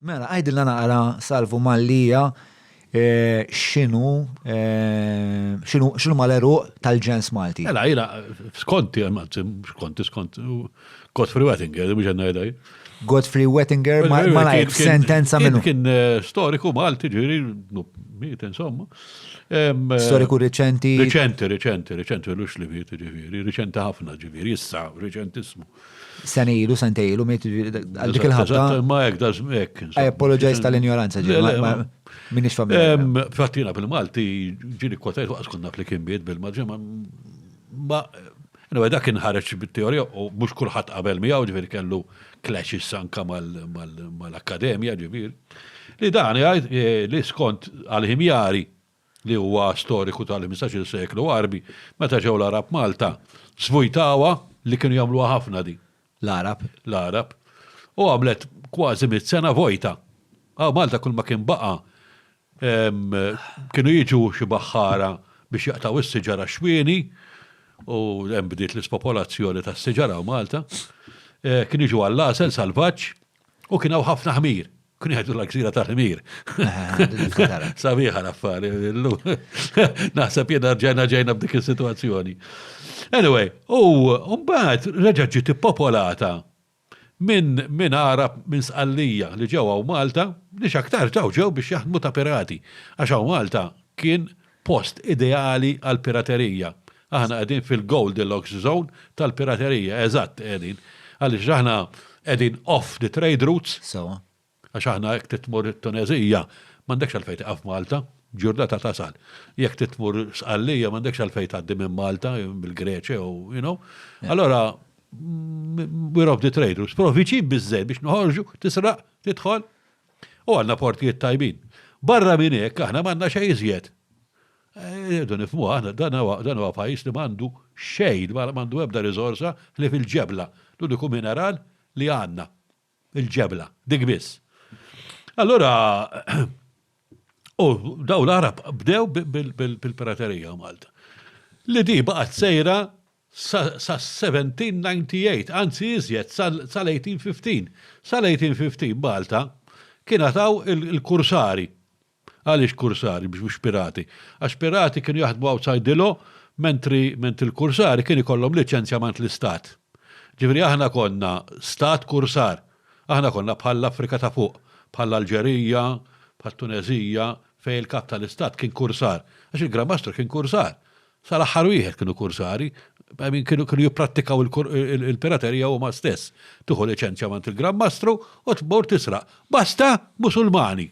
Mela, għajdilna naqra salvu Mallia xinu xinu mal-eru tal-ġens Malti. Mela, jina, skonti, skonti, skonti, Godfrey Wettinger, biex għanna jadaj. Godfrey Wettinger, ma lajk sentenza minnu. Kien eh, storiku Malti ġiri, miet insomma. Eh, storiku reċenti. Reċenti, reċenti, reċenti, l-ux li miet ġiri, reċenti ħafna ġiri, jissa, reċentismu. Sena ilu, sentej ilu, miet għal dik il-ħabta. Ma jek da żmek. I apologize tal-ignoranza ġil. Minix familja. Fattina bil-Malti ġili kotajt waqas konna fli kien biet bil-maġġa ma Anyway, dak kien ħareġ bit-teorija u mhux kulħadd qabel miegħu ġifieri kellu clashes anka mal-akkademja ġifieri. Li dan jgħid eh, li skont għal-ħimjari li huwa storiku tal-ħmistax-il seklu Għarbi, meta ġew l-Għarab Malta, żvujtawha, li kienu jagħmluha ħafna di. L-Għarab. L-Għarab. U għamlet kważi mitt sena vojta. Hawn Malta kull ma kien baqa' kienu jiġu xi baħħara biex jaqtgħu s-siġar għax-xwieni, u hemm bdiet l-ispopolazzjoni tas-siġar hawn Malta, kienu jiġu għall-għasel salvaġġ, u kien hawn ħafna ħmir. Kun jgħidu l-gżira tal-ħmir. Sabiħa l-affari, illu. Naħseb jena ġena ġejna b'dik il-situazzjoni. Anyway, u mbagħad reġa' ġiet ippopolata minn min Arab minn Sqallija li ġew hawn Malta, li x'aktar ġew ġew biex jaħdmu ta' pirati. Għax hawn Malta kien Post ideali għall-piraterija. Aħna qegħdin fil-goldilocks zone tal-piraterija, eżatt qegħdin. Għaliex aħna qegħdin off the trade routes. Sewwa. Għax aħna jekk trid tmur it-Tuneżija, m'għandekx għalfejn tieqaf Malta, b'ġurnata tasal. Jekk trid tmur Sqallija m'għandekx għalfejn tgħaddi minn Malta, mill-Greċja jew, you know. Allora, we're off the trade routes. Però viċin biżżejjed biex noħorġu, tisraq, tidħol, U għandna portijiet tajbin. Barra minn hekk aħna m'għandna xejn iżjed. Irridu nifhmuha aħna dan huwa pajjiż li m'għandu xejn, m'għandu ebda riżorsa ħlief il-ġebla. L-uniku mineral li għandna, il-ġebla, dik biss. Allura u dawn l-Għarab bdew bil-piraterija Malta. Li di baqgħet sejra sas-1798, anzi iżjed, sal-1815. Sal-1815 Malta kienha taw il-kursari. Għaliex kursari biex mhux pirati? Għax pirati kienu jaħdmu outside the law mentri mentri l-kursari kien ikollhom liċenzjamant l-istat. Ġifieri aħna konna stat kursar. Aħna konna bħall-Afrika ta' fuq, bħall-Alġerija, bħat-Tuneżija fejn il-kap tal-istat kien kursar. Għax il-Gran Mastru kien kursar. Sa l-aħħar wieħed kienu kursari, I mean kienu kienu jipprattikaw il-piraterija huma stess. Tieħu liċenzja mant il-Gran Mastru u tmur tisraq. Basta Musulmani!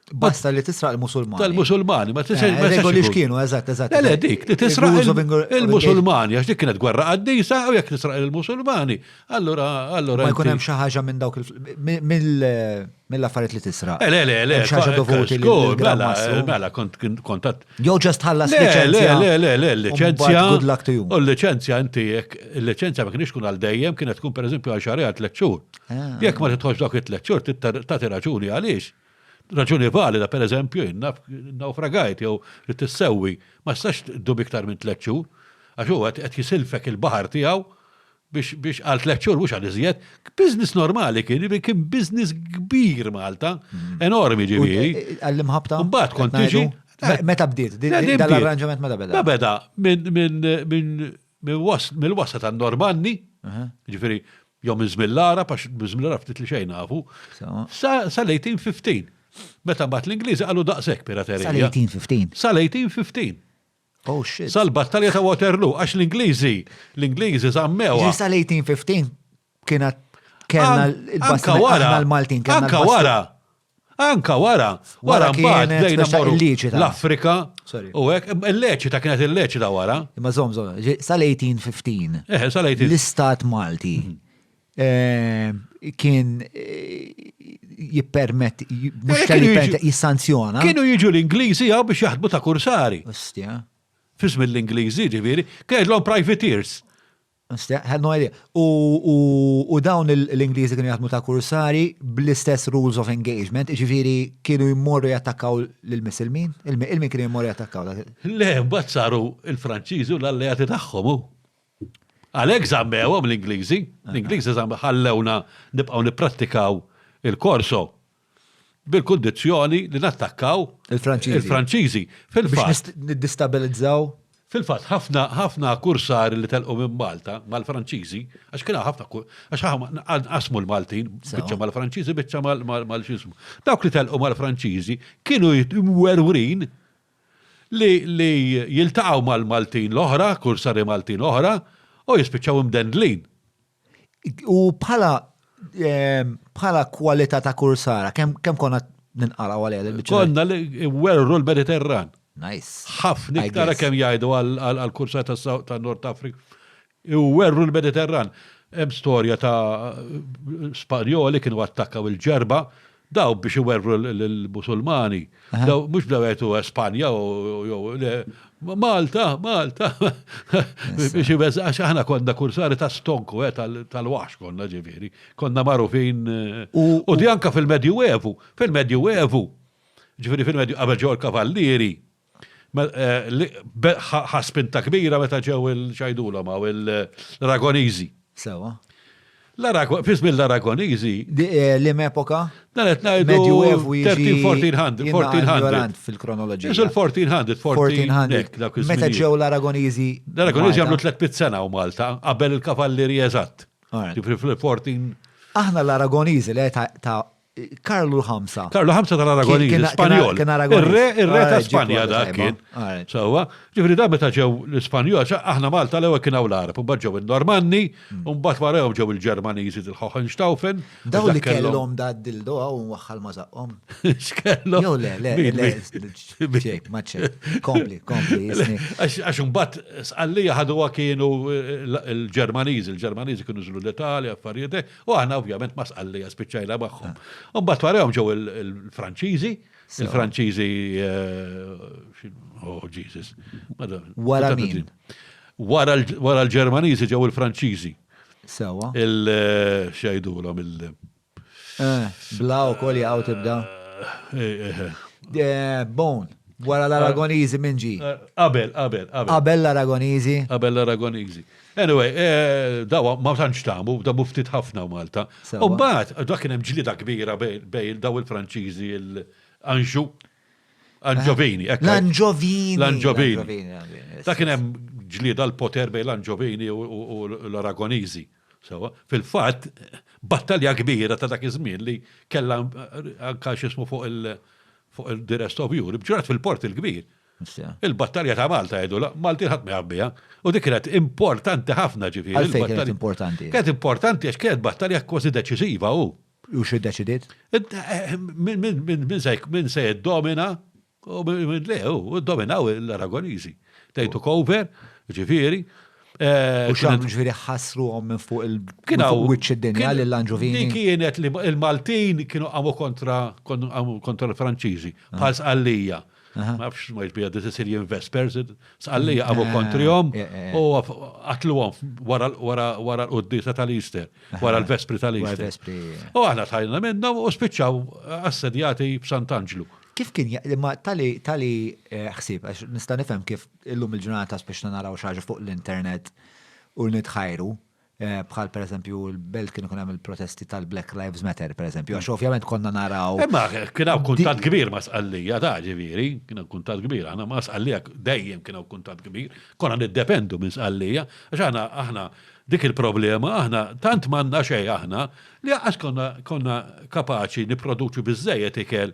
Basta li tisraq il-Musulmani. Tal-Musulmani, ma tisraq. Eh, regoli x'kienu, eżatt, eżatt. Le, dik, li tisraq il-Musulmani, għax dik kienet gwerra qaddisa u jekk tisraq il-Musulmani, allura, allura. Ma jkun hemm xi ħaġa minn dawk mill-affarijiet li tisraq. Eh, le, le, le. Xi ħaġa dovuti li. Mela, mela, kontat Jew ġast ħallas liċenzja. Le, le, le, liċenzja. Good luck to you. U l-liċenzja inti jekk, il-liċenzja ma kienx kun għal dejjem, kienet tkun pereżempju għal xahar għal tliet xhur. Ah. Jekk ma titħoġ dawk it-tliet xhur, tagħti raġuni għaliex. Raġuni valida, pereżempju, inna naufragajt jew li tissewwi, ma stax dub iktar minn tliet xhur, għax huwa qed jisilfek il-baħar tiegħu biex biex għal tliet xhur mhux għal iżjed, business normali kien, kien business kbir Malta, mm. enormi ġifieri. Eh, għall-imħabta. Mbagħad kont tiġi. Meta bdiet, dal-arranġament meta beda. Beda mill-wasa ta' Normanni, ġifieri jew minn Zmillara, għax Zmillara ftit li xejn nafu, sal-1815. Meta mbagħad l-Ingliżi qalu daqshekk piraterija. Sal-1815. Sal-1815. Oh shit. Sal-battalja ta' Waterloo, għax l-Ingliżi, l-Ingliżi zammewa. Ġista l-1815 kienet kellna l-basta l-Maltin. Anka wara. Anka wara. Wara mbagħad bdejna morru l-Afrika. U hekk il-leċita kienet il-leċita wara. Imma żomm żomm, sal-1815. Eh, sal-18. L-istat Malti mhm. kien jippermet eh, jissanzjona. Kienu jiġu l-Ingliżi għaw biex jaħdmu ta' kursari. Ostja. Fism l-Ingliżi ġiviri, kellhom privateers. Ostja, had no idea. U dawn l-Ingliżi kienu jaħdmu ta' kursari bl-istess rules of engagement, ġiviri kienu jimmorru jattakkaw l-Missilmin? Il-min kienu jimmorru jattakkaw? Le, bat saru il-Franċiżi u l-alleati tagħhom. Għalhekk żammewhom l-Ingliżi. L-Ingliżi ħallewna nibqgħu nipprattikaw il-korso bil-kundizzjoni li nattakkaw il-Franċiżi. Biex niddistabilizzaw? Fil-fatt, ħafna ħafna kursari li telqu minn Malta mal-Franċiżi, għax kien ħafna għax qasmu l-Maltin biċċa mal-Franċiżi biċċa mal-xismu. Dawk li telqu mal-Franċiżi kienu jitwerwrin li li jiltaqgħu mal-Maltin l-oħra, kursari Maltin oħra, u jispiċċaw imdendlin. U bħala bħala kwalità ta' kursara, kemm kemm konna ninqalgħu għalija l-biċċa? Konna li werru l-Mediterran. Nice. Ħafna iktar kemm jgħidu għall-kursar tan-Nord Afrika. u werru l-Mediterran. Hemm storja ta' Spanjoli kienu attakkaw il-Ġerba, daw biex iwerru l-Musulmani, daw mhux bdew jgħidu Espanja jew le, Malta, Malta, biex iweżgħu, għax aħna konna kursari ta' stonku, tal-waħx konna ġifieri, konna magħrufin, u di anke fil-Medjuevu, fil-Medjuevu, ġifieri fil-Medju qabel ġew il-Kavallieri, Ħa spinta kbira meta ġew il-ċajdulhom għaw l-Aragoniżi. Sewa. Fismi l-Aragoniżi. Eh, l-im epoka? Dan qed ngħidu 1400, 1400. Fil-kronoloġija. Isu l-1400, 1400. Meta ġew l-Aragoniżi. L-Aragoniżi għamlu 300 sena u Malta qabel il-kavallieri eżatt. Ġifri fil-14. Aħna l-Aragoniżi li ta' Karlu Hamza. Karlu Hamza tal-Aragonini, Spanjol. Kien Aragonini. Ir-re ta' Spanja dak kien. Sawa, ġifri da meta ġew l-Ispanjol, aħna Malta l-ewwel kien hawn l-Arab, mbagħad ġew il-Normanni, mm. mbagħad warahom ġew il-Ġermaniżi il-Hohenstaufen. Daw li kellhom da dildo hawn waħħal ma żaqhom. X'kellhom? Jew le, le, le, ċek, ma ċek. Kompli, kompli, jisni. Għax mbagħad sqallija ħaduha kienu eh, l-Ġermaniżi, l-Ġermaniżi kienu żlu l-Italja, affarijiet eh. U aħna ovvjament ma sqallija spiċċajna magħhom. U mbagħad warahom ġew il-Franċiżi, il-Franċiżi eh, oh Jesus. Wara min? Wara l-Ġermaniżi ġew il-Franċiżi. Sewa. Il-xajdulhom eh, il- eh, Bla u kol jgħaw tibda. Bone. Wara l-Aragonizi minn ġi. Abel, Abel, Abel. Abel l-Aragonizi. Abel l-Aragonizi. Anyway, daw ma tantx tamu, damu ftit ħafna Malta. U mbagħad dak kien hemm ġlieda kbira bejn daw il-Franċiżi l-Anġu. Anġovini, ekk. L-Anġovini. L-Anġovini. Dak kien hemm ġlieda l-poter bejn l-Anġovini u l-Aragoniżi. Sewa, fil-fatt, battalja kbira ta' dak iż-żmien li kellha anka x'ismu fuq il-The Rest of Europe, ġrat fil-Port il-Kbir. Il-battalja ta' Malta jgħidu l-Maltin ħadd ma jaf biha u dik kienet importanti ħafna ġifieri. Għalfejn kienet importanti? Kienet importanti għax kienet battalja kważi deċiżiva u. U xi ddeċidiet? Min se jiddomina u min le u ddominaw l-Aragoniżi. They took over, ġifieri. Eh, u xan ġviri ħasru għom minn fuq il-wicċ id-dinja li l-anġuvini. Kienet li il-Maltin kienu għamu kontra l-Franċiżi, ah. bħal għallija. Ma nafx ma jġbija di Sicilian Vespers, sqalli għabu eh, kontrijom eh, eh. u għatluwom wara l-qoddisa tal-Easter, wara l-Vespri tal-Easter. U għahna tajna minna u spiċċaw assedjati b'Sant'Anġlu. Kif kien, ma tali, tali xsib, għax nista' nifhem kif illum il-ġurnata spiċċa naraw xaġa fuq l-internet u nitħajru, Eh, bħal per eżempju il-belt kien ikun hemm il-protesti tal-Black Lives Matter per eżempju, għax ovvjament konna naraw. Imma eh, kien hawn kuntat kbir ma' sqallija ta' ġifieri, kien hawn kuntat kbir, aħna ma' sqallija dejjem kien hawn kuntat kbir, konna niddependu minn sqallija, għax aħna aħna dik il-problema aħna tant manna xejn aħna li għax konna konna kapaċi nipproduċu biżejjed ikel